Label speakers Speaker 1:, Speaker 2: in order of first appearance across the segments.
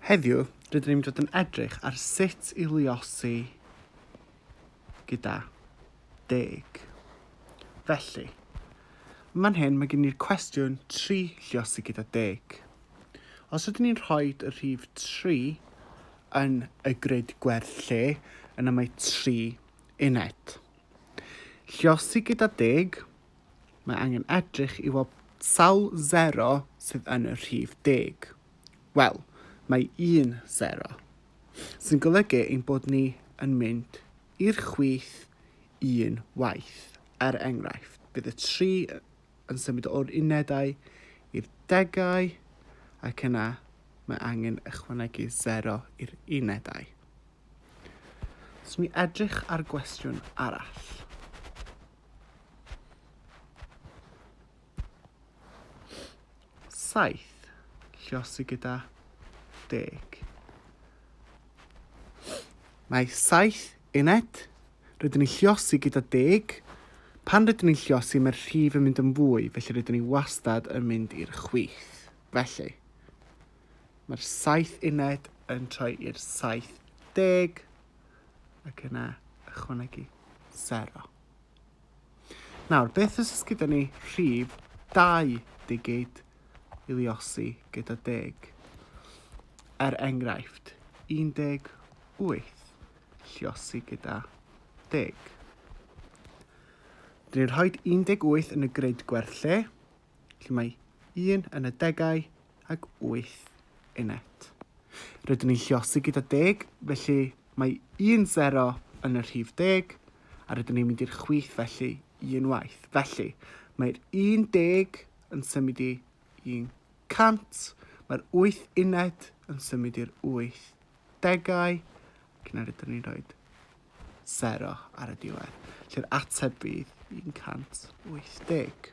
Speaker 1: Heddiw, rydyn ni'n dod yn edrych ar sut i luosi gyda deg. Felly, yn fan hyn mae gen i'r cwestiwn 3 lliosi gyda deg. Os ydyn ni'n rhoi y rhif 3 yn y grid gwerth lle, yna mae 3 uned. Lliosi gyda deg, Mae angen edrych i weld sawl sero sydd yn y rhif deg. Wel, mae un sero, sy'n golygu ein bod ni yn mynd i'r chwith un waith. Er enghraifft, bydd y tri yn symud o'r unedau i'r degau ac yna mae angen ychwanegu sero i'r unedau. Os ni edrych ar gwestiwn arall. Saith, lliosi gyda deg. Mae saith uned. Rydyn ni'n lliosi gyda deg. Pan rydyn ni'n lliosi, mae'r rhif yn mynd yn fwy, felly rydyn ni wastad yn mynd i'r chwith. Felly, mae'r saith uned yn troi i'r saith deg. ac yna ychwanegu sero. Nawr, beth os oes gyda ni rhif 2 digid i liosi gyda deg? Er enghraifft, 18 lliosi gyda deg. Dyn ni'n rhoi 18 yn y grid gwerth lle, lle mae un yn y degau ac wyth yn et. Rydyn ni'n lliosi gyda deg, felly mae un sero yn y rhif deg, a rydyn ni'n mynd i'r chwith felly un waith. Felly, mae'r un deg yn symud i un cant, mae'r wyth uned yn symud i'r wyth degau, ac yna rydyn ni'n rhoi sero ar y diwedd, lle'r ateb fydd 180.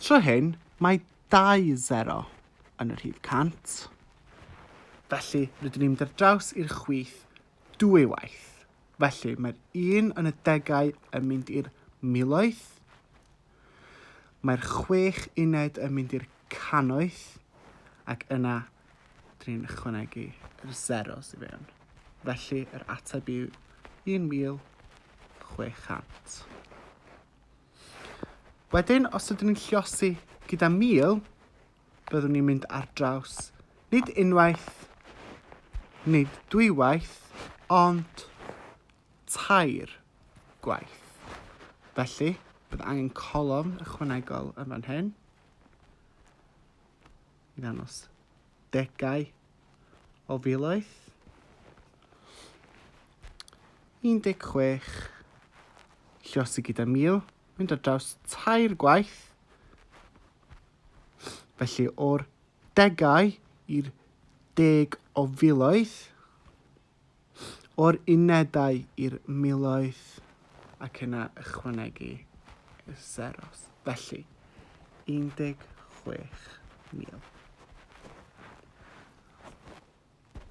Speaker 1: Tro hyn, mae dau sero yn y rhif 100. Felly, rydyn ni'n mynd ar draws i'r chwith dwy waith. Felly, mae'r un yn y degau yn mynd i'r miloedd, mae'r chwech uned yn mynd i'r cannoedd, ac yna dyn ni'n ychwanegu yr zeros i fewn. Felly, yr ateb yw 1600. Wedyn, os ydyn ni'n lliosi gyda 1000, byddwn ni'n mynd ar draws nid unwaith, nid dwywaith, ond tair gwaith. Felly, bydd angen colofn ychwanegol yn fan hyn i ddangos degau o filoedd. 16 llosi gyda 1000, mynd ar draws tair gwaith. Felly o'r degau i'r deg o filoedd, o'r unedau i'r miloedd ac yna ychwanegu y seros, felly 16,000.